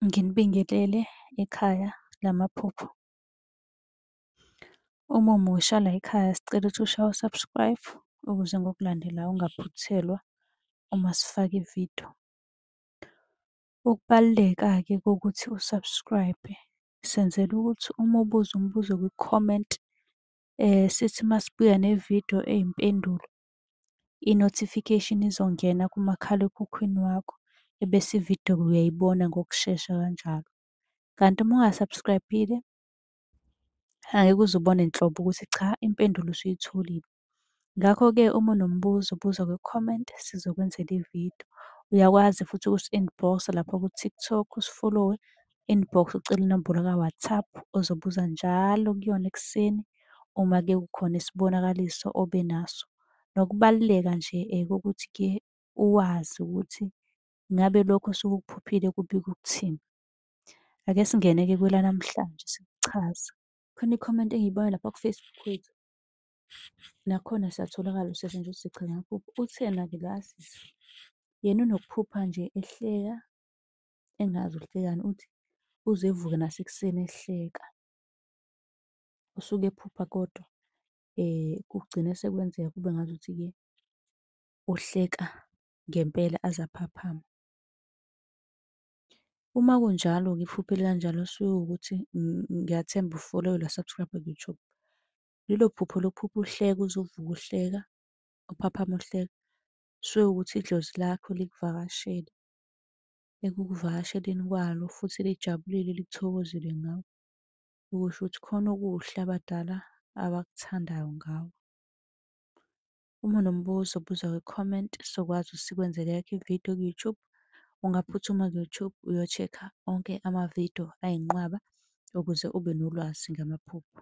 Nginibingelele ekhaya lamaphupho. Uma umusha la ekhaya sicela ukuthi ushaye u-subscribe ukuze ngokulandelayo ungaphuthelwa uma sifaka ividiyo. Ukubaluleka-ke kokuthi u-subscribe senzela ukuthi uma ubuza umbuzo kwi-comment sithi masibuya nevidiyo eyimpendulo i-notification izongena kumakhalekhukhwini wakho ebese ividiyo uyayibona ngokushesha kanjalo. Kanti uma unga-subscribe-ile angeke uze ubone nhlobo ukuthi cha impendulo usuyitholile. Ngakho-ke uma unombuzo buza kwi-comment sizokwenzela ividiyo. Uyakwazi futhi ukusi-inbox-a lapha ku-TikTok usifolowe inbox ucele inombolo ka-WhatsApp ozobuza njalo kuyona ekuseni uma ke kukhona isibonakaliso obe naso. Nokubaluleka nje kokuthi ke uwazi ukuthi ngabe lokho osuke ukuphuphile kubika ukuthini. Ake singene-ke kwelanamhlanje sikuchaza. Khona ikhomenti engiyibona lapha ku-Facebook wethu. Nakhona siyatholakala usizo nje uthi sigcina ukuphupha. Uthena-ke lo asisi? Yena unokuphupha nje ehleka engazi uhlekani uthi uze evuke nasekuseni ehleka. Usuke ephupha kodwa kugcine sekwenzeka kube ngazuthi-ke uhleka ngempela aze aphaphame. Uma kunjalo-ke iphupho elikanjalo kusuke kuwukuthi ngiyathemba ufollow-ile wasubscribe ku-YouTube. Lelo phupho lokuphupha uhleka uze uvuke uhleka, uphaphame uhleka, kusuke kuwukuthi idlozi lakho likuvakashele. ekukuvakasheleni kwalo futhi lijabulile lithokozile ngawe, ukusho ukuthi khona okuhle abadala abakuthandayo ngawe. Uma unombuzo buza kwi-comment sokwazi ukuthi sikwenzele yakho ividiyo ku-YouTube. Ungaphuthuma ku-YouTube uyochekha onke amavidiyo ayinqwaba ukuze ube nolwazi ngamaphupho.